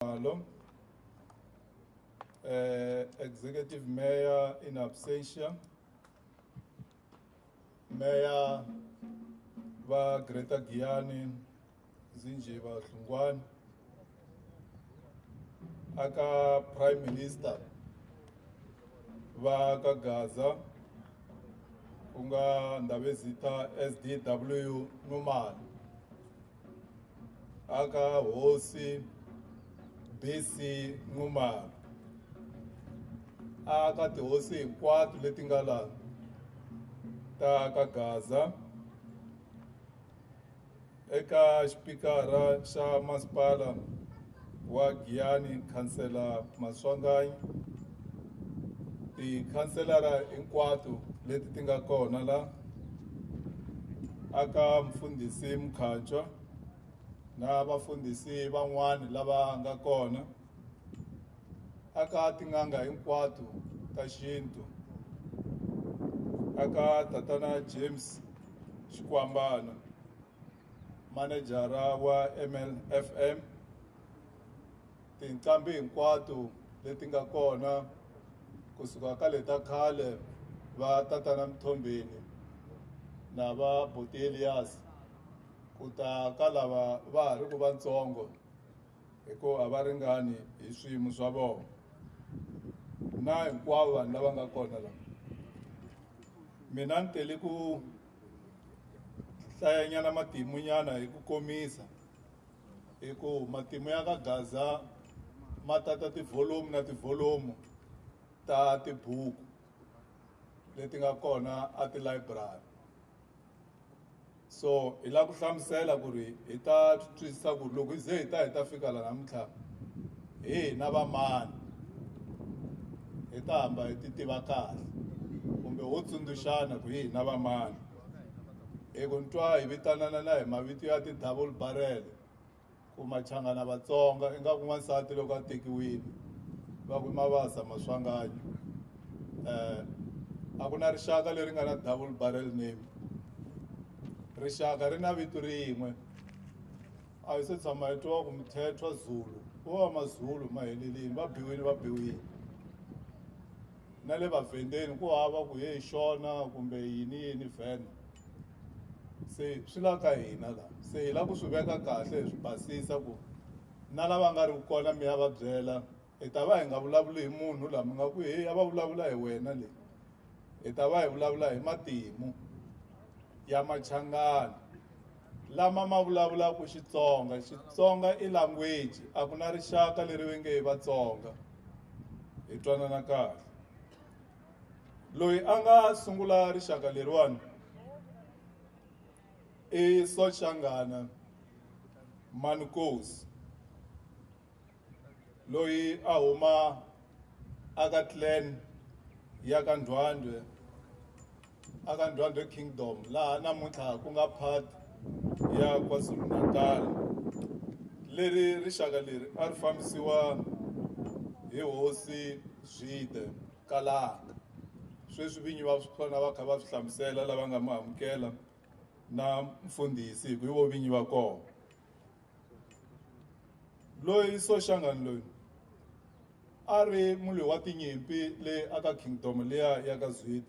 Khumalo. Executive Mayor in absentia. Mayor va Greater Giyani Zinjiva Hlungwani. Aka Prime Minister va ka Gaza ku nga Ndabezitha SDW Numalo. aka hosi BC Nxumalo aka tihosi hinkwato leti nga laha ta ka Gaza eka xipikara xa masipala wa Giyani khansela Maswanganyi tikhanselara hinkwato leti ti nga kona la aka mfundhisi Mkhatshwa na vafundhisi van'wani lava nga kona aka tin'anga hinkwato ta xintu aka tatana James Xikwambana Manejara wa MLFM, tinqambi hinkwato leti nga kona kusuka ka leta khale va tatana Mthombeni na va Buti Elias ku ta ka lava va ha ri ku vatsongo hi ku a va ringani hi swiyimo swa vona na hinkwavo vanhu lava nga kona la mina ni tele ku hlayanyana matimu nyana hi ku komisa hi ku matimu ya ka gaza ma tata tivholomu na tivholomu ta tibuku leti nga kona a ti-library so hi lava ku hlamusela ku ri hi ta twisisa ku ri loko hi ze hi ta hi ta fika la namuntlha hi hina va mani hi ta hamba hi ti tiva kahle kumbe ho tsundzuxana ku hi hina va mani hi ku ntwa hi vitanana na hi mavito ya ti-double barrel ku machangana vatsonga ingaku n'wansati loko a tekiwile va ku mavasa maswanganyo um a ku na rixaka leri nga na double barrel name rixaka ri na vito rin'we a yi se tshama yi twiwa ku mithethwa zulu vo va mazulu ma helelini va biwile va biwile na le vavhendeni ku hava ku ye xona kumbe yini yini vhene se swi la ka hina la se hi la ku swi veka kahle hi swi basisa ku na lava nga ri kona mi ya va byela hi ta va hi nga vulavuli hi munhu laha mi nga ku heyi a va vulavula hi wena leyi hi ta va hi vulavula hi matimu ya machangani lama ma vulavulaka xitsonga xitsonga i language a ku na rixaka leri ve nge hi vatsonga hi twanana kahle loyi a nga sungula rixaka leriwani i sochangana manikosi loyi a huma aka clan ya ka Ndwandwe aka Ndwandwe Kingdom laha namuntlha ku nga part ya KwaZulu-Natal leri rixaka leri a ri fambisiwa hi hosi Zwide Kalaka sweswi vinyi va swona va kha va swi hlamusela lava nga mu amukela na mfundhisi hi ku i vo vinyi va kona loyi soshangani loyi a ri mulwi wa tinyimpi le aka kingdom liya ya ka zwide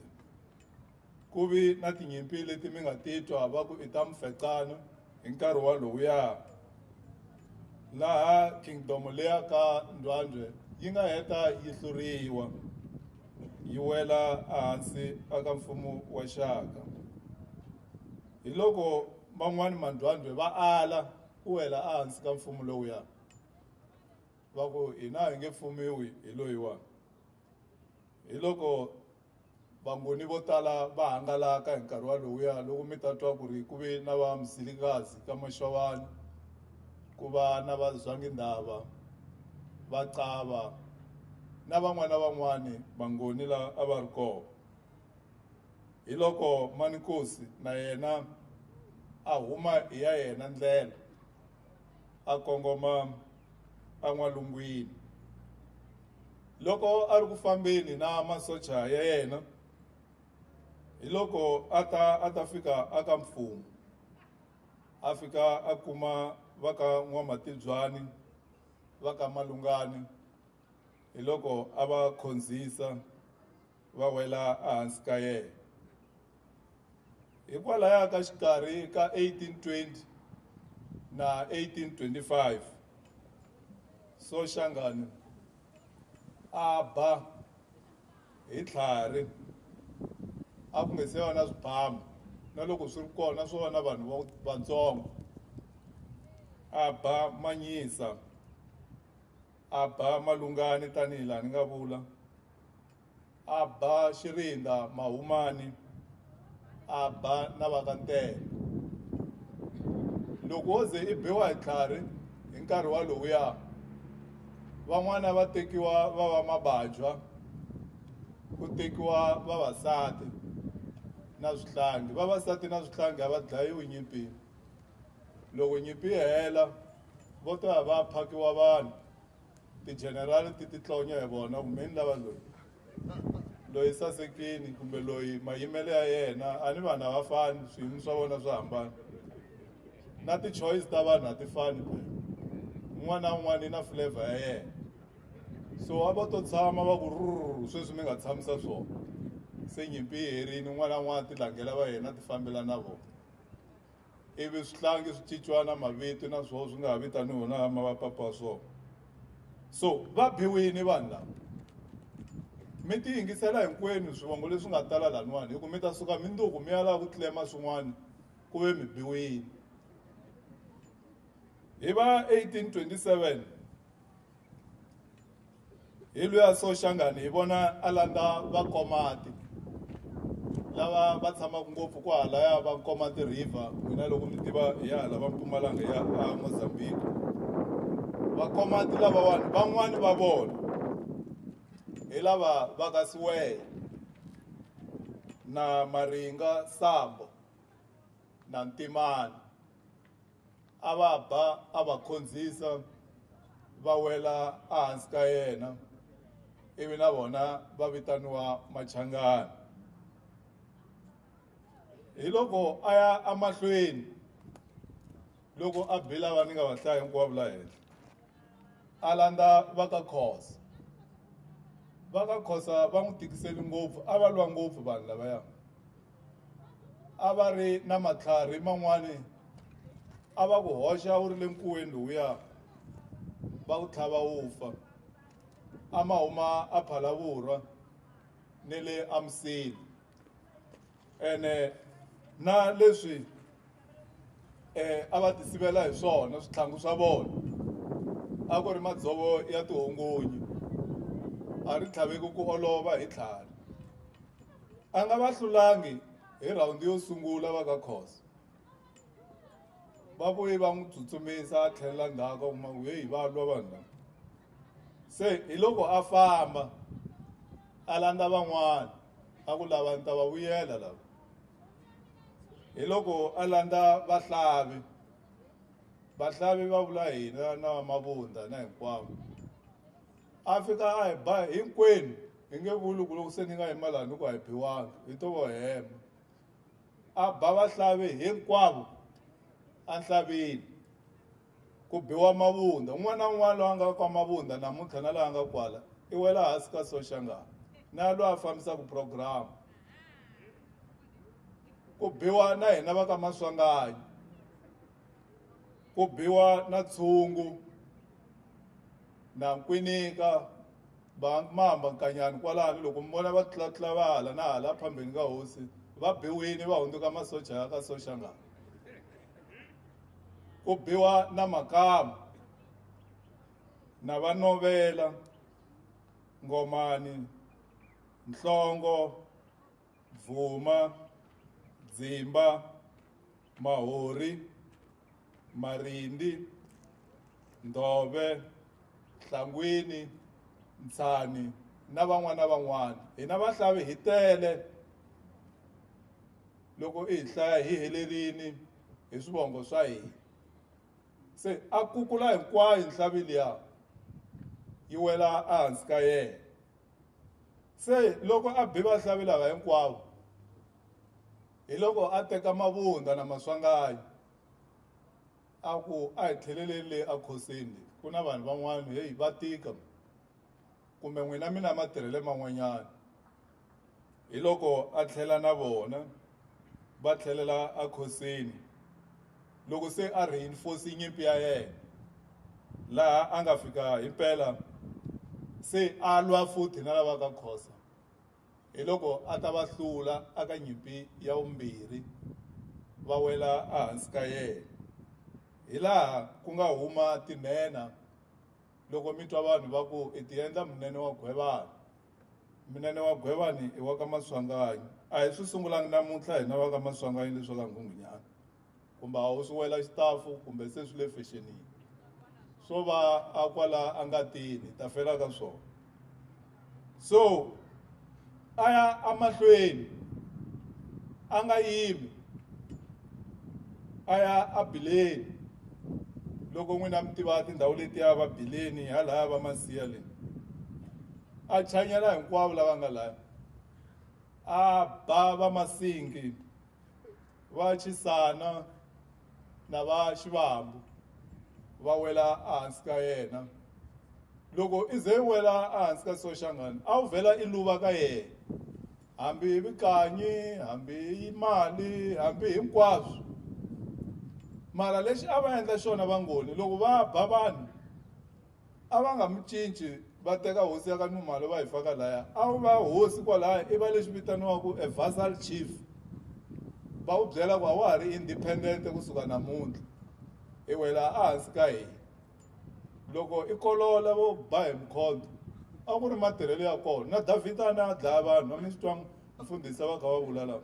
ku vi na tinyimpi leti mi nga titwa va ku i ta mufecana hi nkarhi walowuya laha kingdom leya ka ndwandwe yi nga heta yi hluriwa yi wela ehansi aka mfumo wa xaka Hiloko man'wana mandwandwe va ala ku wela ehansi ka mfumo lowuya, va ku, Hina hi nge fumiwi hi loyiwa. Hiloko vangoni vo tala va hangalaka hi nkarhi walowuya loko mi ta twa ku ri ku ve na va Mzilikazi ka Mashavani, ku va na va Zwangindhava, va Cava na van'wana na van'wana vangoni la a va ri kona. Hiloko Manikosi na yena a huma hi ya yena ndlela a kongoma en'walungwini. Loko a ri ku fambeni na masocha ya yena, hiloko a ta a ta fika aka mfumo, a fika a kuma va ka N'wamatibyani va ka Malungani hiloko a va khonzisa va wela ehansi ka yena. Hikwalaya ka xikarhi ka 1820 na 1825, Soshangane a ba hi tlhari a ku nga se va na swibamu, na loko swi ri kona swo va na vanhu vatsongo, a ba Manyisa, a ba Malungani tanihi laha ni nga vula. a ba xirinda mahumani a ba na vakantele loko wo ze i biwa hi tlhari hi nkarhi walowuya van'wana va tekiwa va va mabajwa ku tekiwa vavasati na swihlangi vavasati na swihlangi a va dlayiwi nyimpini loko nyimpi yi hela vo ta va phakiwa vanhu tijenerali ti titlonya hi vona ku meni lava loyi loyi sasekini kumbe loyi mayimelo ya yena a ni vanhu a va fani swiyimo swa vona swa hambana na ti-choice ta vanhu a ti fani un'wana na un'wana i na flavor ya yena so a va to tshama va ku ruru sweswi mi nga tshamisa swona se nyimpi yi herini un'wana na un'wana ti langela va yena ti fambela na vona ivi swihlangi swi cinciwa na mavito na swoho swi nga ha vitaniwi na mavapapa wa swona so va biwini vanhu lava mi ti yingisela hinkwenu swivongo leswi nga tala laniwani hi ku mi ta suka minduku mi ya lava ku tlema swin'wana ku ve mi biwini hi va 1827 hi luya soshangani hi vona a landza vakomati lava va tshamaka ngopfu ku halaya va koma ti-river n'wina loko mi tiva hi ya hala va mpumalanga ya mozambique vakomati lavawani van'wani va vona hi lava va ka siweya na maringa sambo na ntimani a va ba a va khondzisa va wela ehansi ka yena ivi na vona va vitaniwa machangana hi loko a ya emahlweni loko a bela va ni nga va hlaya hinkwavo la henhla a landza va ka khosa va ka khosa va n'wi tikiseli ngopfu a va lwa ngopfu vanhu lavaya a va ri na matlhari man'wani a va ku hoxa wu ri le nkuweni lowuya va ku tlhava wu fa a ma huma a phalavurwa ni le amsini ene na leswi um a va ti sivela hi swona switlhangu swa vona a ku ri madzovo ya tihungunyi a ri tlhaveki ku olova hi tlhari a nga va hlulangi hi rhawundi yo sungula va ka khoso va vuye va n'wi tsutsumisa a tlhelela ndzhaku kuma ku heyi va lwa vanhu lava se hi loko a famba a landza van'wana a ku lava ni ta va vuyela lava hi loko a landza vahlavi vahlavi va vula hina na mavundza na hinkwavo a fika a hi ba hinkwenu hi nge vuli ku loko se ni nga yima laha ni ku a hi biwanga hi to vo hema a ba vahlavi hinkwavo enhlavini ku biwa mavunda un'wana na un'wana loyi a nga kwa mavunda namuntlha na laha a nga kwala i wela hansi ka soxangana na loyi a fambisaka programu ku biwa na hina va ka maswanganyi ku biwa na tshungu na nkwinika va mamba nkanyani kwalano loko mi vona va tlulatlula va hala na hala phambeni ka hosi va biwini va hundzuka masocha ya ka soshangana ku biwa na makama na vanovela ngomani nhlongo Bvuma, Dzimba, Mahori, Marindi, Ndove, Nhlangwini, Ntshani na van'wana van'wana. Hina vahlavi hi tele loko i hi hlaya hi helerini hi swivongo swa hina se a kukula hinkwayo nhlavi liya yi wela ehansi ka yena. se loko a bi vahlavi lava hinkwavo hi loko a teka mavunda na maswangayi a ku a hi tlheleleni le ekhosini ku na vanhu van'wana heyi va tika kumbe n'wina mina matirhele man'wanyana hi loko a tlhela na vona va tlhelela ekhosini Loko se a reinforce nyimpi ya yena laha a nga fika hi mpela se a lwa futhi na lava ka khosa hi loko a ta va hlula aka nyimpi ya vumbirhi va wela ehansi ka yena hi laha ku nga huma tinhenha loko mi twa vanhu va ku i tiendla munene wa gwevani munene wa gwevani i wa ka maswanganyi a hi swi sungulangi namuntlha hina va ka maswanganyi leswi ka nghungunyana kumbe a wu swi wela xitafu kumbe se swi le fexenini swo va a kwala a nga tini ta fela ka swona so a ya amahlweni a nga yimi a ya a bileni loko n'wina mi tiva tindhawu letiya va bileni halaya va masiya leyi a chanyela hinkwavo lava nga laya a ba va masingi va xisana na va xivambu va wela ehansi ka yena loko i ze i wela ehansi ka soxangani a wu vhela i luva ka yena hambi hi vukanyi hambi hi mali hambi hinkwaswo mara lexi a va endla xona vangoni loko va ba vanhu a va nga mi cinci va teka hosi ya ka Nxumalo va yi faka laya a wu va hosi kwalaya i va lexi vitaniwaka a vassal chief va wu byela ku a wa ha ri independent kusuka namuntlha i wela ehansi ka hina loko i kolola vo ba hi mkhonto a ku ri matirhelo ya kona na davhida a na a dlaya vanhu a mi swi twanga mfundhisi a va kha va vula lava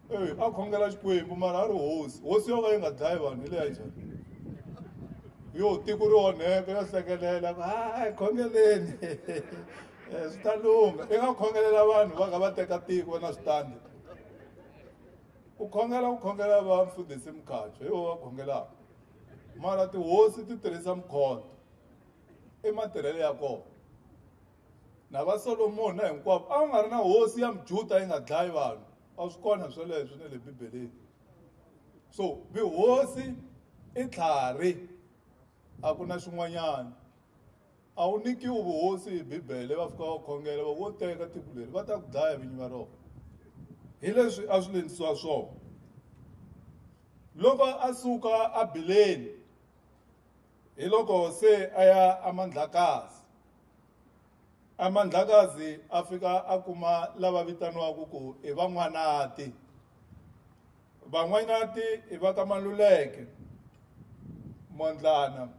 eyi a khongela xikwembu mara a ri hosi hosi yo ka yi nga dlayi vanhu hi leya njhani yo tiko ri onheka yo hlekelela ku hayi khongeleni eh, swi ta lungha i nga khongelela vanhu va kha va teka tiko na switandi ku khongela ku khongela va mfundhisi mukhatsho hi wo va khongelaka mara tihosi ti tirhisa mukhoto i matirhelo ya kona na va solomoni na hinkwavo a va nga ri na hosi ya mujuda yi nga dlayi vanhu a swi kona sweleswo na le bibeleni so vihosi i tlhari a ku na xin'wanyana a wu nikiwi vuhosi hi bibele va fika va khongela va wo teka tiko leri va ta ku dlaya vinyi va rona hi leswi a swi lendisiwa swona loko a suka a bileni hi loko se a ya eMandlakazi eMandlakazi a fika a kuma lava vitaniwaka ku i van'wanati van'wanati i va ka Maluleke Mondlana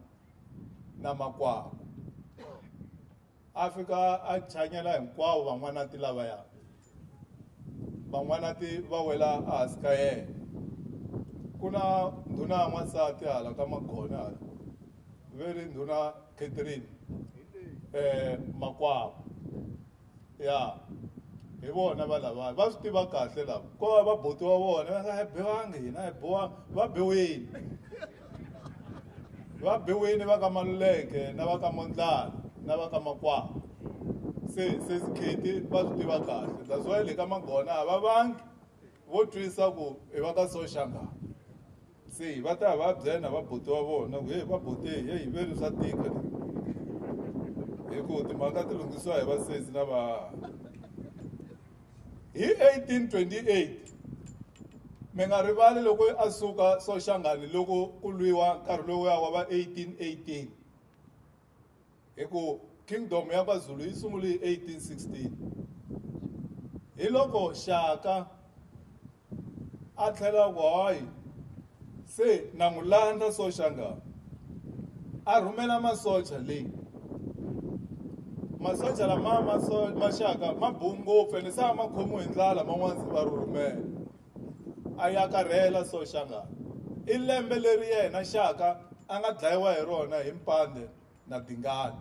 na Makwakwa a fika a chanyela hinkwavo van'wanati lavaya van'wanati va wela ehansi ka yena ku na ndhuna ya n'wansati hala ka magona hala ve ri ndhuna catherine um makwavo ya hi vona va lavaya va swi tiva kahle lava ko va va botiwa vona va nga hi biwangi hina hi biwa va biwile va biwini va ka maluleke na va ka mondlana na va ka makwavo se se sikhiti va swi tiva kahle that's why le ka magona a va vangi vo twisa ku i va ka soshanga se va ta va byena va buti wa vona ku heyi va buti heyi hi veri swa tika hi ku timhaka ti lunghisiwa hi vasesi na va Hi 1828, mi nga rivali loko a suka Soshangani loko ku lwiwa nkarhi lowuya wa va 1818 hi ku kingdom ya KwaZulu yi sungule hi 1816 hi loko Shaka a tlhela a ku hayi se na n'wi landza soshanga a rhumela masocha leyi masocha lama maxaka ma bowu ngopfu ene se a ma khomiwe hi ndlala man'wana va rhumela a ya karhela soshanga i lembe leri yena xaka a nga dlayiwa hi rona hi mpande na tingana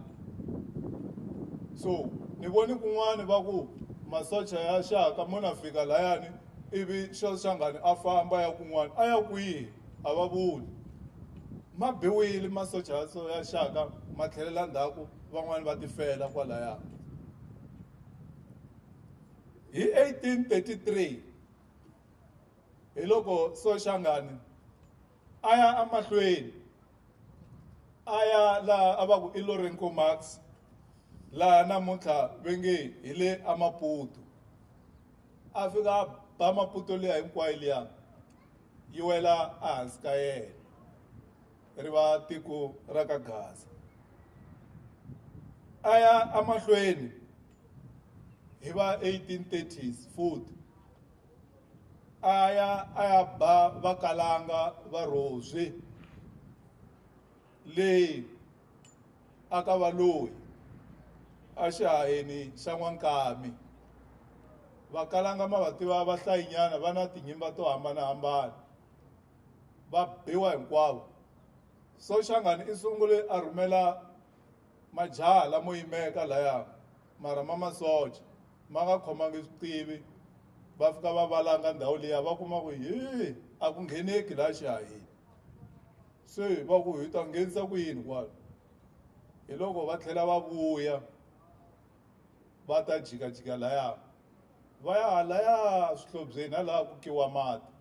so ni voni kun'wana va ku masocha ya xaka mo na fika layani ivi xo xangani a famba ya kun'wana a ya kwihi a va vuli ma biwile masocha ya so ya xaka ma tlhelela ndzhaku van'wani va tifela kwalaya hi 1833 hi loko soxangani A ya emahlweni a ya laha a va ku i Lourenco Marx, laha namuntlha ve nge hi le aMaputo. A fika a ba Maputo liya hinkwayo liya yi wela ehansi ka yena, ri va tiko ra ka Gaza. A ya emahlweni hi va 1830s futhi. a ya a ya ba vakalanga va rhozwi leyi a ka va loyi exihaheni xa n'wankami vakalanga ma va tiva vahlayinyana va na tinyimba to hambanahambana va biwa hinkwavo so xangani i sungule a rhumela Majaha lamo yimeka laya mara ma masocha ma nga khomangi swiqivi va fika va valanga ndhawu liya va kuma ku hi a ku ngheneki laha xihahini se va ku hi ta nghenisa ku yini kwalo hi loko va tlhela va vuya va ta jikajika laya va ya halaya swihlobyeni halaha ku kiwa mati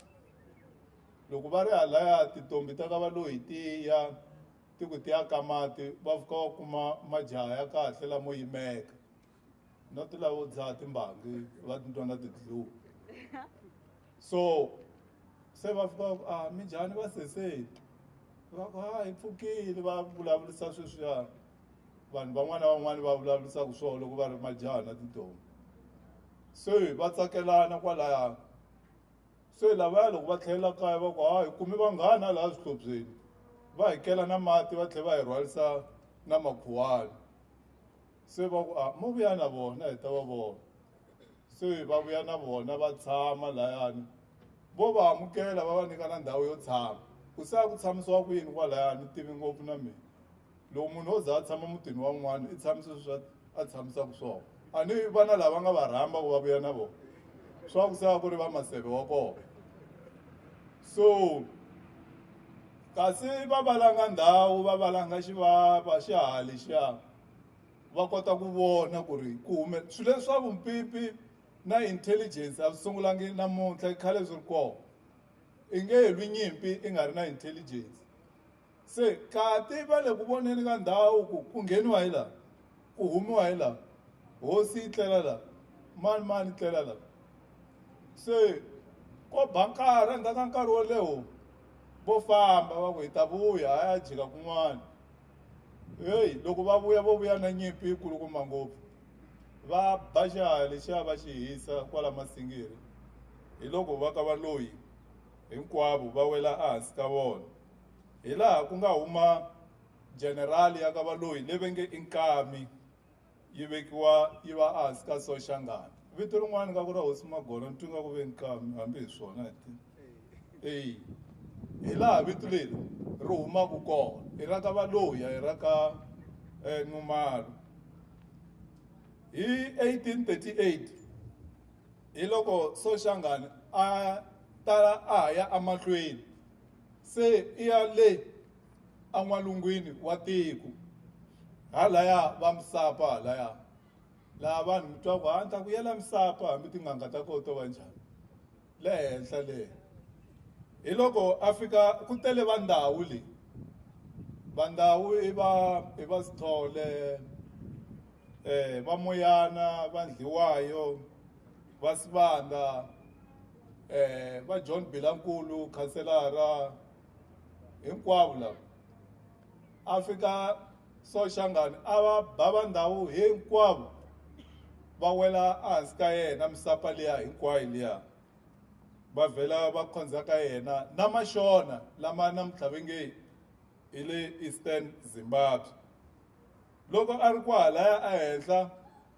loko va ri halaya tintombi ta ka valoyi tiya Ti ku ti ya ka mati va fika va kuma majaha ya kahle lamo yimeka na ti lavo dzaha timbangi va titwa na ti-glue so se va fika va ku a mi njhani va seseti va ku ha hi pfukile va vulavurisa sweswiyani vanhu van'wana na van'wana va vulavurisaka swona loko va ri majaha na tintombhi se va tsakelana kwalaya se lavaya loko va tlhelela kaya va ku ha hi kumi vanghani a laha swihlobyeni va hi kela na mati va tlhela va hi rhwarisa na makhuwani se va ku a ah, mo vuya na vona hi ta va vona se va vuya na vona va tshama layani vo va amukela va va nyika na ndhawu yo tshama ku se a ku tshamisiwa ku yini kwalayani ni tivi ngopfu na mina loko munhu wo za a tshama mutini wa un'wana i tshamisa swa a tshamisaka swona a ni vana lava nga va rhamba ku va vuya na vona swa ku se va ku ri va maseve wa kona so kasi va valanga ndhawu va valanga xivava xihali xa va kota ku vona ku ri ku hume swilo leswi swa vumpipi na intelligence a swi sungulangi namuntlha khale swi ri kona i nge lwi nyimpi i nga ri na intelligence Se kati va le ku voneni ka ndhawu ku ku ngheniwa hi laha, ku humiwa hi laha, hosi yi tlela laha, mani mani tlela laha. Se ko ba nkarhi endzhaku ka nkarhi wo leho vo famba va ku hi ta vuya ha ya jika kun'wana heyi loko va vuya vo vuya na nyimpi yi kulukumba ngopfu va ba xiharhi lexiya va xi hisa kwala masingiri hi loko va ka valoyi hinkwavo va wela ehansi ka vona Hi laha ku nga huma jenerali ya ka Valoyi leyi venge i Nkami yi vekiwa yi va ehansi ka Soshangana. Vito rin'wana nga ku ra Hosi Magolo ni twi nga ku ve Nkami hambi hi swona hi ti eyi hi laha vito leri ri humaka kona i ra ka Valoyi a hi ra ka Nxumalo. Hi 1838 hi loko Soshangana a ta a ha ya emahlweni se i ya le en'walungwini wa tiko halaya va misapa halaya laha vanhu mi twaku ha ni ta ku yela misapa hambi tin'anga ta koho to va njhani le henhla le hi loko a fika ku tele va ndhawu leyi va ndhawu i va i va sithole um va moyana va ndliwayo va sivanda eh va John Bilankulu khanselara hinkwavo lava a fika Soshangani a va ba va ndhawu hinkwavo va wela ehansi ka yena misapa liya hinkwayo liya va vhela va khonza ka yena na maxona lama namuntlha ve nge hi le eastern zimbabwe loko a ri kwahalaya ehenhla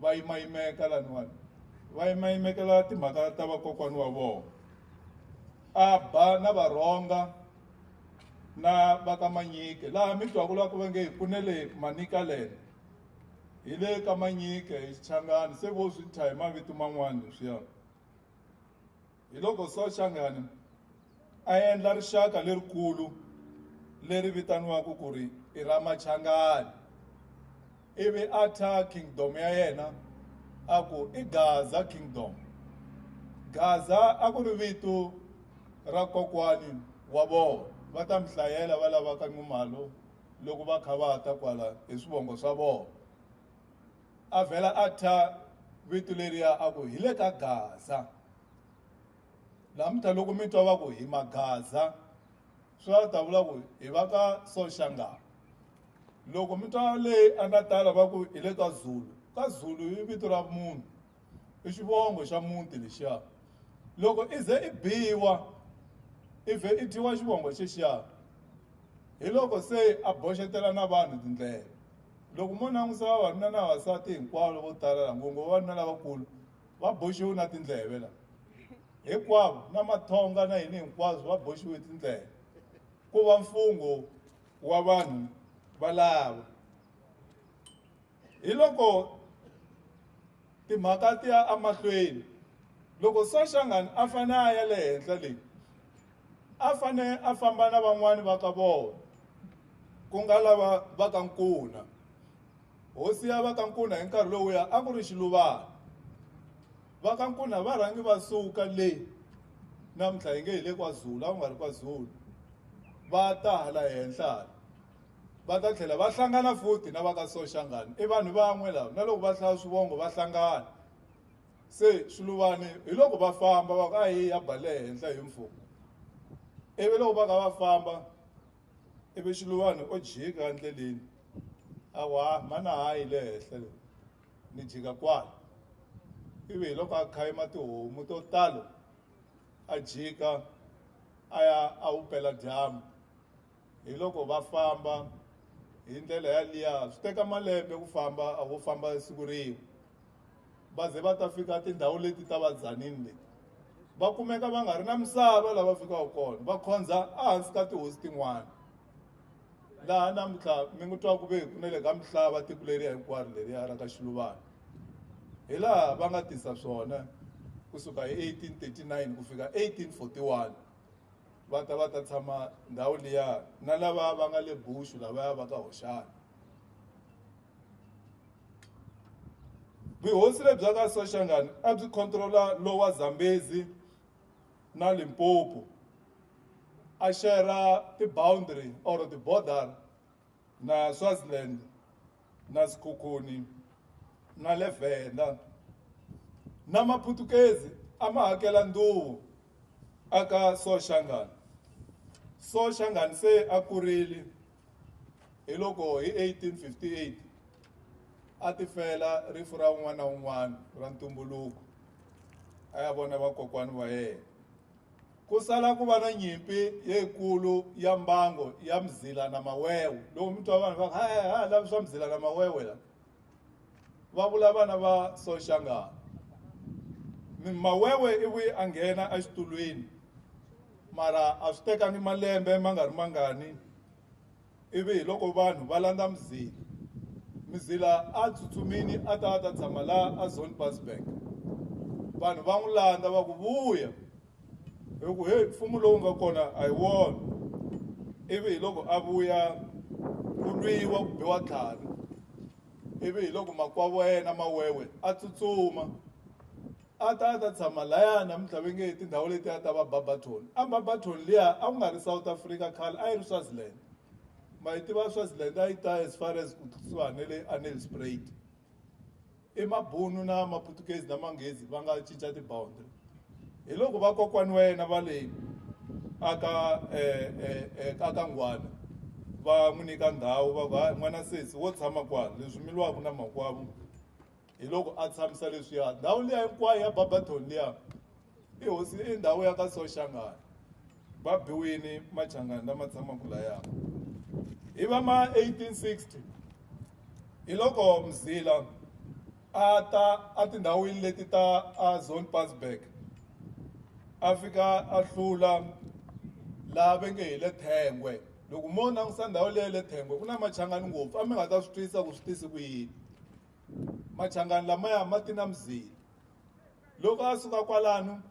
va yimayimeka laniwani va yimayimekela timhaka ta vakokwani wa vona a ba na varhonga na va ka manyike laha mi twaku la ku va nge hi pfune le manika lene hi le ka manyike hi xichangani se vo swi thya hi mavito man'wana leswiya hi loko Sochangani a endla rixaka lerikulu leri vitaniwaka ku ri i ra Machangani ivi a tha kingdom ya yena a ku i Gaza kingdom Gaza a ku ri vito ra kokwani wa vona va ta mi hlayela va lavaka Nxumalo loko va kha va ta kwala hi swivongo swa vona a vhela a thya vito leriya a ku hi le ka gaza namuntlha loko mi twa va ku hi magaza swi va ta vula ku hi va ka soshanga loko mi twa leyi a nga tala va ku hi le ka zulu ka zulu i vito ra munhu i xivongo xa muti lexiya loko i ze i biwa i vhe i dyiwa xivongo xexiya hi loko se a boxetela na vanhu tindlela loko mo langusa vavanuna na vavasati hinkwavo vo tala la ngopfu vavanuna lavakulu va boxiwe na tindleve la hinkwavo na mathonga na yini hinkwaswo va boxiwe tindleve ku va mfungho wa vanhu valava hi loko timhaka ti ya emahlweni loko soshangani a fanele a ya le henhla leyi a fanele a famba na van'wani va ka vona ku nga lava va ka nkuna hosi ya va ka nkuna hi nkarhi lowuya a ku ri xiluvana va ka nkuna va rhangi va suka leyi namuntlha hi nge hi le kwazulu a ku nga ri kwazulu va ta hala henhla va ta tlhela va hlangana futhi na va ka soshangani i vanhu van'we lava na loko va hlaya swivongo va hlangana se swiluvani hi loko va famba va ku a hi ya bale henhla hi mfumo ivi loko va ka va famba ivi xiluvani o jika endleleni a ku ha mana hayi le henhla le ni jika kwala ivi hi loko a khayima tihomu to talo a jika a ya a wu pela dyambu hi loko va famba hi ndlela yaliya swi teka malembe ku famba a vo famba siku rin'we va ze va ta fika tindhawu leti ta vadzanini leti va kumeka va nga ri na misava lava fikaka kona va khondza ehansi ka tihosi tin'wana laha namuntlha mi n'wi twa ku ve ku na le ka misava tiko leriya hinkwaro leriya ra ka xiluvana hi laha va nga tisa swona kusuka hi 1839 ku fika 1841 va ta va ta tshama ndhawu liya na lava va nga le bushu lavaya va ka hoxana vuhosi lebya ka soshangani a byi controla lowa zambezi na limpopo a shera ti-boundary or ti-border na swaziland na Sekhukhune na le Venda na Maputukezi a ma hakela nduvu a ka Soshangane. Soshangane se a kurile hi loko hi 1858 a ti fela rifu ra un'wana na un'wana ra ntumbuluko a ya vona vakokwani wa yena. Ku sala ku va na nyimpi leyikulu ya mbango ya mzila na mawewe. Loko mi twa vanhu va ha ha lavi swa mzila na mawewe la va vula vana va Soshangana. Mawewe i vuye a nghena exitulwini mara a swi tekangi malembe ma nga ri mangani Ivi hi loko vanhu va landza Mzila, Mzila a tsutsumini a ta a ta tshama laha a Zonpassberg. Vanhu va n'wi landza va ku, Vuya! Hi ku, Heyi, mfumo lowu nga kona a hi wona. Ivi hi loko a vuya, ku lwiwa, ku biwa tlhanu. Ivi hi loko makwavo ya yena ma wewe a tsutsuma. a ta a ta tshama laya namuntlha ve nge tindhawu leti a ta va barberton a barberton liya a ku nga ri south africa khale a yi ri swaziland ma yi tiva swaziland a yi ta as far as ku tlisiwa ne le anel sprayed i mabunu na maputukezi na manghezi va nga cinca tiboundary hi loko vakokwani wa yena va le aka eh, eh, eh, aka nghwana va n'wi nyika ndhawu va va n'wana sesi wo tshama kwala leswi miliwaka na makwavo hi loko a tshamisa leswiya ndhawu liya hinkwayo ya barberton liya i hosi i ndhawu ya ka soshangana va biwini machangani lama tshamaka laya hi va ma 1860 hi loko mzila a ta etindhawini leti ta a zone pasberg a fika a hlula laha ve nge hi le thengwe loko mo langutisa ndhawu leya le thengwe ku na machangani ngopfu a mi nga ta swi twisisa ku swi tisi ku yini machangani lamaya ma ti na mzila loko a suka kwalano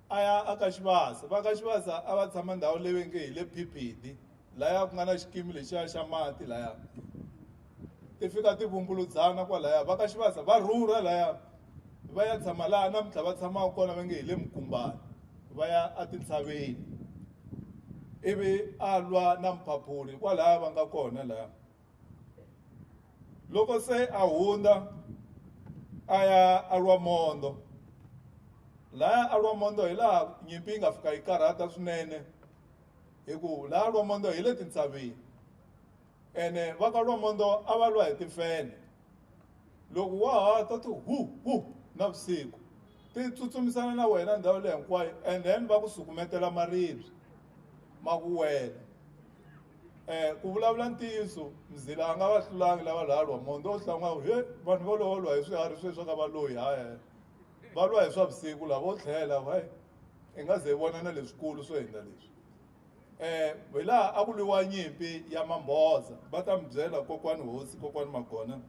a ya a ka xivasa va ka xivasa a va tshama ndhawu leyi ve nge hi le phiphithi laya ku nga na xikimi lexiya xa mati laya ti fika ti vumbuludzana kwalaya va ka xivasa va rhurha laya va ya tshama laha namuntlha va tshamaka kona va nge hi le mukumbani va ya etintshaveni ivi a lwa na mphaphuli kwalaya va nga kona laya Loko se a hundza a ya a lwa mondo laya a lwa mondo hi laha nyimpi yi nga fika yi karhata swinene hi ku laya lwa mondo hi le tintshaveni ene va ka lwa mondo a va lwa hi tifene loko wa ha ta ti hu hu navusiku ti tsutsumisana na wena ndhawu leyi hinkwayo and then va ku sukumetela maribye ma ku wela Eh, ku vulavula ntiyiso mzila a nga va hlulangi lava lhalwa mondho o hlan'wawu he vanhu vo lowo lwa hi swiharhi sweswi a ka va loyi hahe va lwa hi swa vusiku lava vo tlhela wa i nga ze hi vona na leswikulu swo hindza leswi um hi laha a ku lwiwa nyimpi ya mambhoza va ta mi byela kokwani hosi kokwani magona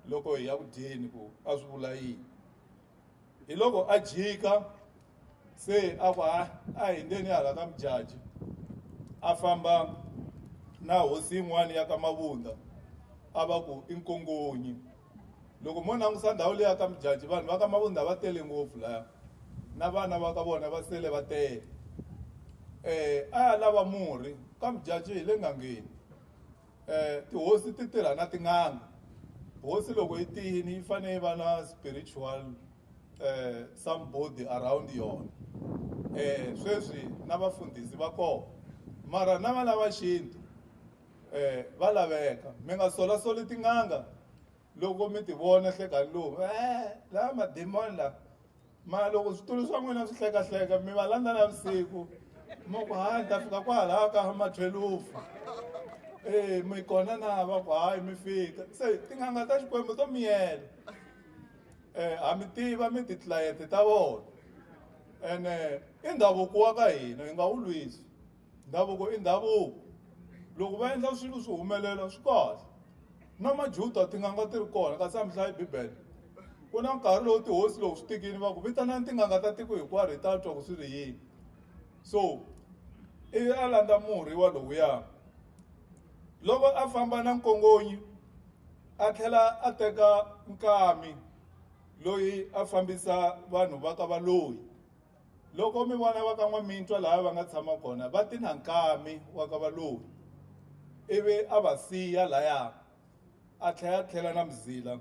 loko hi ya ku dyeni ku a swi vula yini hi loko a jika se a ku a a hindeni hala ka mujaji a famba na hosi yin'wana ya ka mavunda a va ku i nkongonyi loko mo langusa ndhawu leya ka mujaji vanhu va ka mavunda va tele ngopfu laya na vana va ka vona va sele va tele um a ya lava murhi ka mujaji hi le ngangeni Eh, tihosi ti tirha na tin'anga hosi loko yi tiyini yi fanele yi va na spiritual eh, somebody around yona eh, sweswi na vafundhisi va kona mara na vana va xintu eh, va laveka mi nga solasoli tin'anga loko mi tivona hlekani lowu e lava mademoni lava ma loko switulu swa n'wina swi hlekahleka mi va landza na vusiku ma ku hayi ni ta fika kwalaho ka mathwelufu e mi kona na va ku hayi mi fika se tin'anga ta xikwembu to miyela um ha mi tiva mi titlilayenti ta vona ene i ndhavuko wa ka hina hi nga wu lwisi ndhavuko i ndhavuko loko va endla swilo swi humelela swi kahle na majuda tin'anga ti ri kona kasi a mi hlayi bibele ku na nkarhi lowu tihosi lowu swi tikini va ku vitanani tin'anga ta tiko hinkwaro hi ta twa ku swi ri yini so i a landza murhi wa lowuya loko a famba na nkongonyi a tlhela a teka nkami loyi a fambisa vanhu va ka valoyi Loko mi vona va ka N'wamintwa laha va nga tshama kona va ti na nkami wa ka Valoyi ivi a va siya laya a tlhe a tlhela na Mzila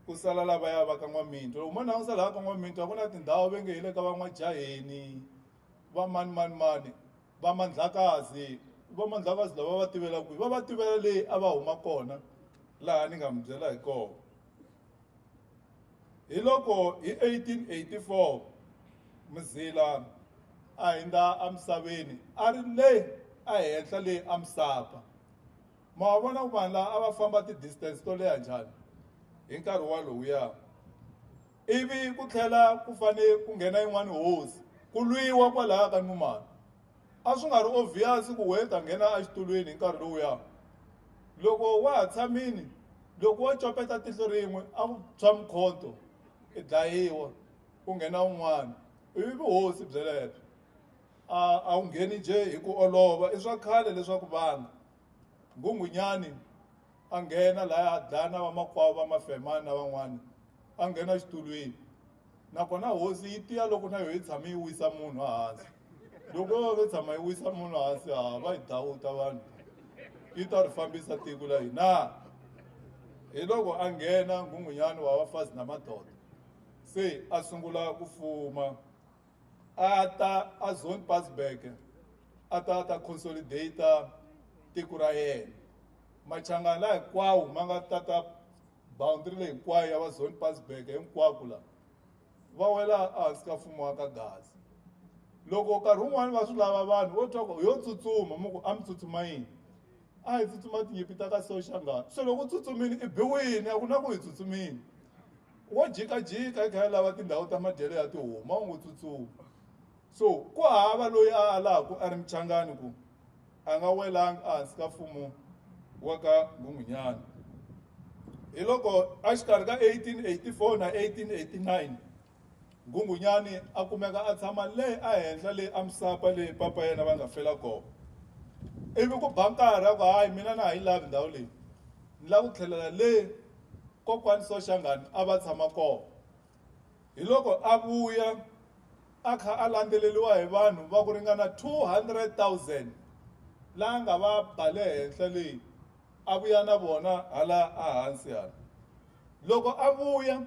ku sala lavaya va ka N'wamintwa. Loko mo langusa laha ka N'wamintwa ku na tindhawu ve nge hi le ka va N'wajaheni va mani mani mani va Mandlakazi va Mandlakazi lava va va tivela kwihi va va tivela leyi a va huma kona laha ni nga mi byela hi kona. Hiloko hi 1884 Mzila a hindza emisaveni a ri le ehenhla le eMsapa. Ma wa vona ku vanhu laha a va famba ti-distance to leha njhani hi nkarhi walowuya. Ivi ku tlhela ku fanele ku nghena yin'wani hosi, ku lwiwa kwalaya ka Numalo. A swi nga ri ovhiyasi ku Wade a nghena exitulwini hi nkarhi lowuya. Loko wa ha tshamile, loko wo copeta tihlo rin'we a ku tshwa mukhonto, i dlayiwa, ku nghena un'wana. I vuhosi byelebyo. A a wu ngheni njhe hi ku olova. I swa khale leswaku vana. Nghunghunyani. a nghena laya a dlaya na vamakwavo va mafemani na van'wana a nghena xitulwini nakona hosi yi tiya loko na yo yi tshame yi wisa munhu hansi loko yo yo tshama yi wisa munhu hansi ha va yi dawuta vanhu yi ta ri fambisa tiko la hina hi loko a nghena nghunghunyani wa vafazi na madoda se a sungula ku fuma a ta a zone pass back a ta ta consolidate tiko ra yena machangana hinkwawo ma nga tata boundary leyi hinkwayo ya va zone pass back hinkwako la va wela ehansi ka mfumo wa ka gaza loko nkarhi wun'wani va swi lava vanhu vo twa ku yo tsutsuma mo ku a mi tsutsuma yini a hi tsutsuma tinyimpi ta ka soxa ngati se loko u tsutsumile i biwile a ku na ku hi tsutsumile wo jikajika i kha a lava tindhawu ta madyelo ya tihomu a wu ngo tsutsuma so ku hava loyi a alaku a ri muchangani ku a nga welanga ehansi ka mfumo wa ka nghunghunyana hi loko a xikarhi ka 1884 na 1889 Nghunghunyani a kumeka a tshama le a henhla le a misapa leyi papa yena va nga fela kona. Ivi ku ba nkarhi a ku, Hayi, mina na ha yi lavi ndhawu leyi. Ni lava ku tlhelela le Kokwani Soshangani a va tshama kona. Hiloko a vuya a kha a landzeleriwa hi vanhu va ku ringana 200,000 la a nga va ba le henhla le, a vuya na vona hala a hansi hala. Loko a vuya,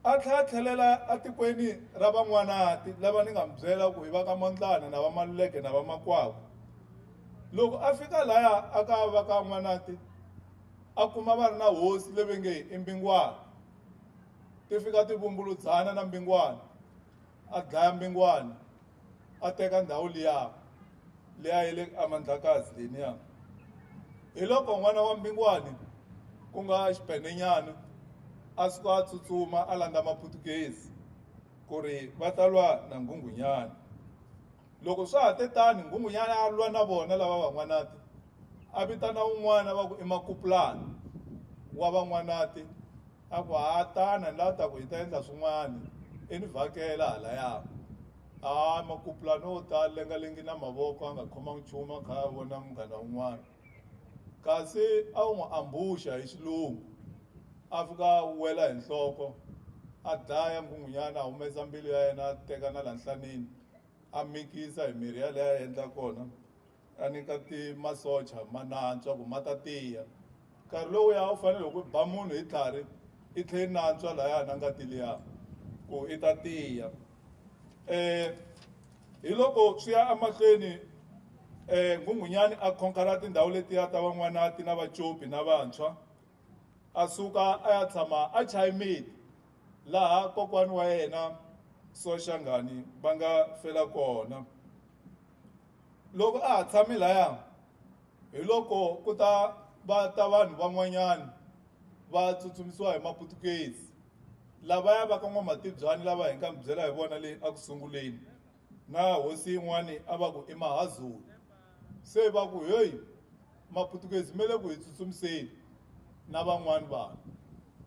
A tlhela a tlhelela atikweni ra Van'wanati, lava ni nga mi byela ku i va ka Mondlani na va Maluleke na va Makwakwa. Loko a fika laya a ka va ka N'wanati, a kuma va ri na hosi leve nge i Mbingwana. Ti fika ti vumbuludzana na Mbingwana, a dlaya Mbingwana. a teka ndhawu liya liya ya le amandlakazi leniya hi loko n'wana wa mbingwani ku nga xipenenyana a suka a tsutsuma a landza maputukezi ku ri va ta lwa na nghunghunyana loko swa ha te tani nghunghunyana a lwa na vona lava van'wanati a vitana un'wana va ku i makupulana wa van'wanati a ku ha tana ni la ta ku hi ta endla swin'wana i ni vhakela halaya a makupulana o ta lengalengi na mavoko a nga khomangi nchumu a kha a vona munghana un'wana kasi a wu n'wi ambuxa hi xilungu a fika a wela hi nhloko a dlaya nghunghunyana a humesa mbilu ya yena a teka na la nhlanini a mikisa hi mirhi yaleyo a endla kona a nyika ti masocha ma nantswa ku ma ta tiya nkarhi lowuya u fanele loko ba munhu hi tlhari i tlhe i nantswa lahaya na ngati liya ku i ta tiya um hi loko swi ya emahlweni um nghunghunyani a khonkhara tindhawu letiya ta van'wanati na vacopi na vantshwa a suka a ya tshama a chayimiti laha kokwani wa yena soshangani va nga fela kona Loko a ha tshame laya, hi loko ku ta va ta vanhu van'wanyana va tsutsumisiwa hi Maputukezi, lavaya va ka N'wamatibyani lava hi nga mi byela hi vona le a ku sunguleni, na hosi yin'wana a va ku i Mahazulu. Se va ku, Heyi, Maputukezi me le ku hi tsutsumiseni na van'wana vanhu.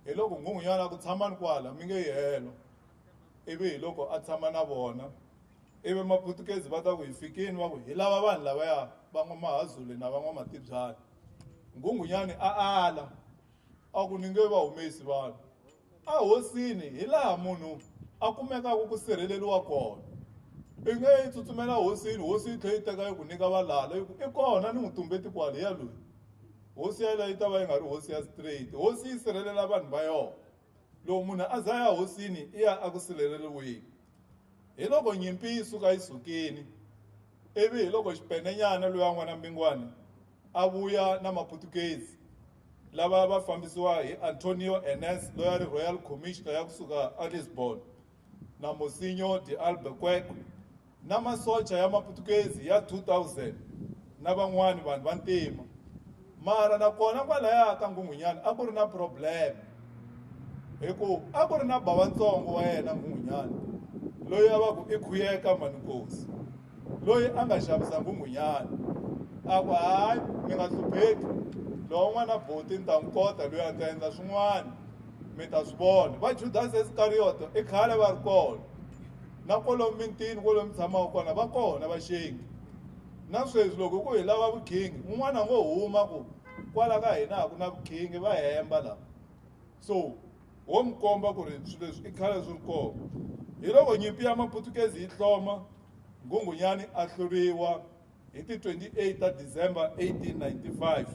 Hi loko Nghunghunyana a ku, Tshamani kwala, mi nge yi helo. Ivi hi loko a tshama na vona. ivi maputukezi va ta ku hi fikini va ku hi lava vanhu lavaya van'wamahazule na van'wamatibyana nghunghunyani a ala a ku ni nge va humesi vanhu a hosini hi laha munhu a kumekaka ku sirheleriwa kona i nge yi tsutsumela hosini hosi yi tlhe yi teka yi ku nyika valala yi ku i kona ni n'wi tumbeti kwale ya loyi hosi yaleyo yi ta va yi nga ri hosi ya straight hosi yi sirhelela vanhu va yona Loko munhu a za ya hosini i ya aku sileleriwini. Hi loko nyimpi yi suka yi sukini, ivi hi loko xipenenyana luya n'wana Mbingwani a vuya na Maputukezi lava va fambisiwa hi Antonio Enes loya ri Royal Commissioner ya ku suka a Lisbon na Mosinho de Albuquerque, na masocha ya maputukezi ya 2000 na van'wani vanhu va ntima mara nakona kwalaya ka nghunghunyana a ku ri na problem hi ku a ku ri na bavantsongo wa yena nghunghunyana loyi a va ku i khuyeka manikosi loyi a nga xavisa nghunghunyana a ku hayi mi nga hlupheki lowo n'wana boti ni ta n'wi kota loyi a ta endla swin'wana mi ta swi vona va judasi isikariyoto i khale va ri kona na kwalomu mintini kwalomu mi tshamaka kona va kona vaxengi na sweswi loko ku hi lava vukhingi un'wana ngo huma ku kwala ka hina a ku na vukhingi va hemba lava so wo mi komba ku ri swilo leswi i khale swi ri kona hi loko nyimpi ya maputukezi yi hloma nghunghunyani a hluriwa Hi ti 28 ta December 1895,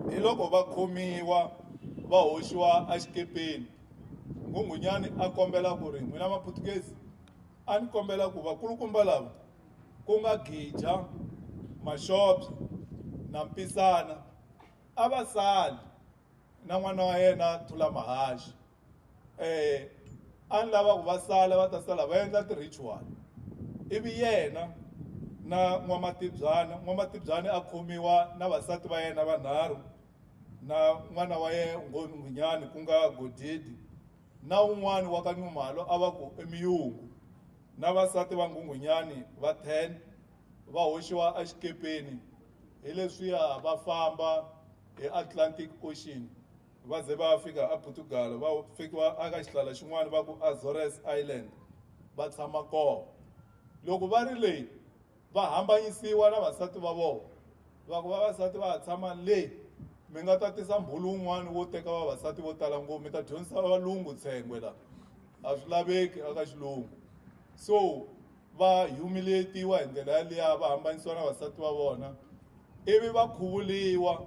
hi loko va khomiwa va hoxiwa a xikepeni, Nghunghunyani a kombela ku ri, N'wina Maphutukezi, a ni kombela ku vakulukumba lava, ku nga Gija, Maxobya na Mpisana, a va sali na n'wana wa yena Thulamahaxi. eh a ni lava ku va sala va ta sala va endla ti-ritual ivi yena na n'wamatibyana n'wamatibyana a khomiwa na vasati va yena vanharhu na n'wana wa yena ngonyani ku nga godidi na un'wana wa ka nyumalo a va ku emiyungu na vasati va nghunghunyani va 10 va hoxiwa exikepeni hi leswiya va famba hi atlantic ocean Va ze va fika aPortugal, va fekiwa aka xihlala xin'wana va ku Azores Island, va tshama kona. Loko va ri le, va hambanyisiwa na vasati va vona, va ku, Vavasati va ha tshama le, mi nga ta tisa mbhulu wun'wana wo teka vavasati vo tala ngopfu, mi ta dyondzisa valungu tshengwe la. A swi laveki aka xilungu. So, va humiliate-iwa hi ndlela yaliya va hambanisiwa na vasati va vona ivi va khuvuriwa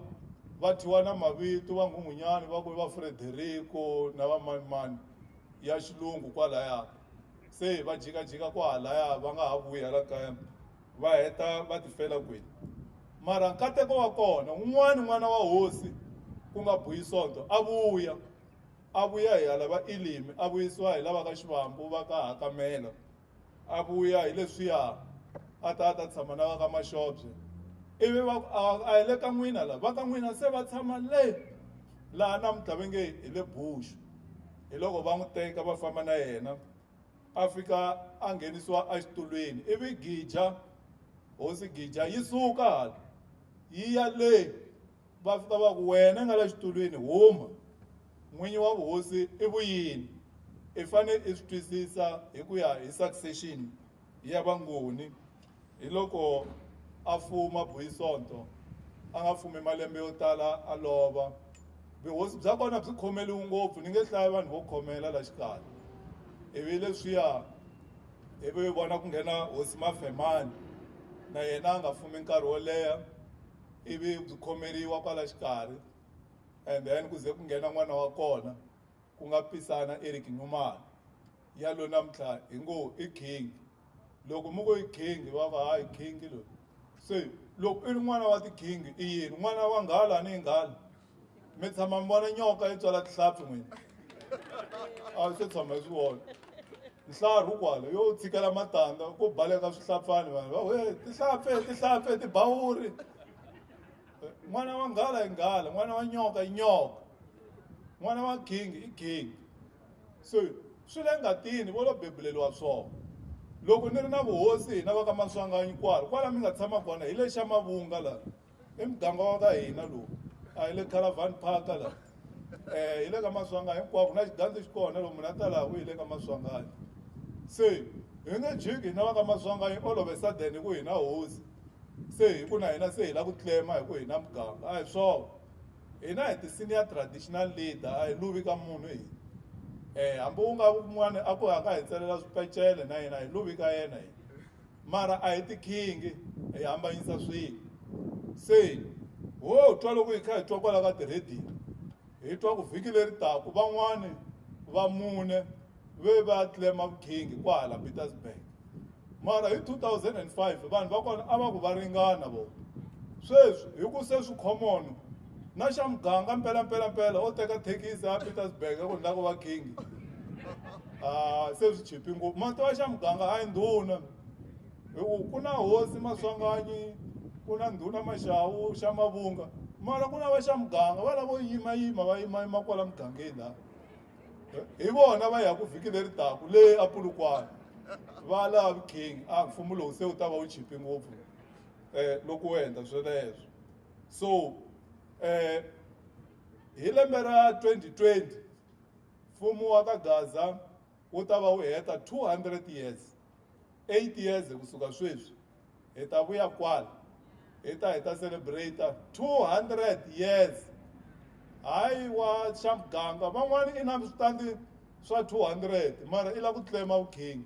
va thyiwa na mavito va nghunghunyani va ku i va Frederico na va manimani ya xilungu kwalaya se va jikajika kwahalaya va nga ha vuyi hala kaya va heta va tifela kwini mara nkateko wa kona un'wana n'wana wa hosi ku nga buyi sonto a vuya a vuya hi hala va ilimi a vuyisiwa hi lava ka xivambu va ka hakamela a vuya hi leswiya a ta a ta tshama na va ka maxobye ivi va ku a hi le ka n'wina la va ka n'wina se va tshama le laha namuntlha ve nge hi le buxu hi loko va n'wi teka va famba na yena a fika a nghenisiwa exitulwini ivi gija hosi gija yi suka hala yi ya le Va fika va ku, Wena nga la xitulwini, huma! N'winyi wa vuhosi i vuyini? I fane i swi twisisa hi ku ya hi succession ya vangoni, hi loko a fuma Buyisonto a nga fumi malembe yo tala a lova. Vuhosi bya kona byi khomeliwi ngopfu, ni nge hlaya vanhu vo khomela la xikarhi. Ivi leswiya ivi vona ku nghena hosi Mafemani, na yena a nga fumi nkarhi wo leha. ivi byi khomeriwa kwala xikarhi and then ku ze ku nghena n'wana wa kona ku nga pisana Eric Nxumalo ya lo namuntlha hi ngo i king loko mi ngo i king va va hayi king loyi se loko i ri n'wana wa ti-king i yini n'wana wa nghala ni yi nghala mi tshama mi vona nyoka yi tswala tihlampfi n'wini a swi tshama hi swi vona nhlaru kwala yo tshikela matandza ku baleka swihlampfani vanhu va we tihlampfi tihlampfi tibawuri n'wana wa nghala i nghala n'wana wa nyoka i nyoka n'wana wa gingi i gingi so swi le ngatini vo lo bebuleliwa swona loko ni ri na vuhosi hina va ka maswanganyi kwala kwala mi nga tshama kona hi le xa mavunga laha i muganga wa ka hina lowu a hi le caravan park la um eh, hi le ka maswangani hinkwako na xigandzi xi kona loko munhu a ta laha ku hi le ka maswangani se hi nge jiki na va ka maswangani olove sudden hi ku hina hosi se hi ku na hina se hi lava ku tlema hi ku hina muganga a hi swona hina hi ti-senior traditional leader a hi luvi ka munhu hina um hambi u nga un'wana a ku haka hi tselela swipecele na yena hi luvi ka yena hina mara a hi tikhingi hi hambanyisa swilo se ho twa loko hi kha hi twa kwala ka tirhediyo hi twa ku vhiki leri taku van'wani va mune ve va tlema vukhingi kwahala petersburg mara hi 2005 vanhu va kona a va ku va ringana vona sweswi hi ku se swi common na xa muganga mpela mpela mpela o teka thekisi a petersburg a ku ni la ku va king a se swi chipi ngopfu ma tiva xa muganga a yi ndhuna hi ku ku na hosi maswanganyi ku na ndhuna maxawu xa mavunga mara ku na va xa muganga va lavo yimayima va yimayima kwala mugangeni laha hi vona va ya ku vhiki leri taku le apulukwana va lava king a mfumo lowu se wu ta va wu chipi ngopfu um loko wu endla sweleswo so eh hi lembe ra 2020 mfumo wa ka gaza wu ta va wu heta 200 years 8 years hi kusuka sweswi hi ta vuya kwala hi ta hi ta celebrate 200 years hayi wa xa muganga van'wana i na switandi swa 200 mara i la ku tlema vukhingi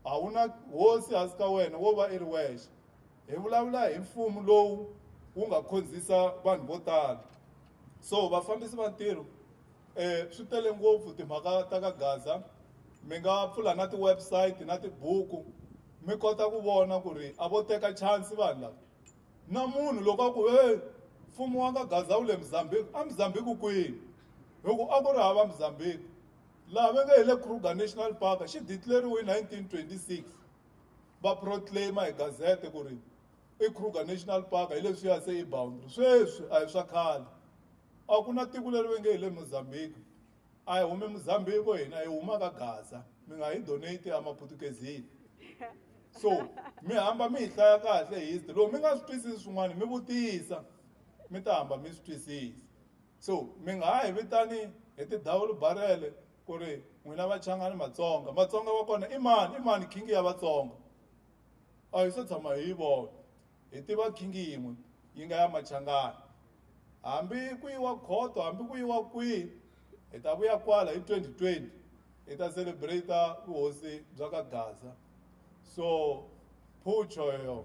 a wu na hosi hansi ka wena wo va i ri wexe Hi vulavula hi mfumo lowu wu nga khonzisa vanhu vo tala so vafambisi va ntirho um swi tele ngopfu timhaka ta ka gaza mi nga pfula na ti-website na tibuku mi kota ku vona ku ri a vo teka chance vanhu lava na munhu loko a ku e mfumo wa ka gaza wu le mozambique a mozambique kwini hi ku a ku ri hava mozambique laha va nge hi le kruger national park xi decleriwe hi 1926 va proclaima hi gazete ku ri i kruger national park hi leswi ya se i boundary sweswi a hi swa khale a ku na tiko leri ve nge hi le mozambique a hi hume mozambique hina hi huma ka gaza mi nga hi donate ya maputukezini so mi hamba mi hi hlaya kahle history loko mi nga swi twisisi swin'wana mi vutisa mi ta hamba mi swi twisisa so mi nga ha hi vitani hi tidavulu barele ku ri n'wina vachangani matsonga matsonga wa kona i mani i mani khingi ya vatsonga a hi se tshama hi yi vona hi tiva khingi yin'we yi nga ya machangani hambi ku yiwa khoto hambi ku yiwa kwihi hi ta vuya kwala hi 2020 hi ta celebrate vuhosi bya ka gaza so phutsho yoyo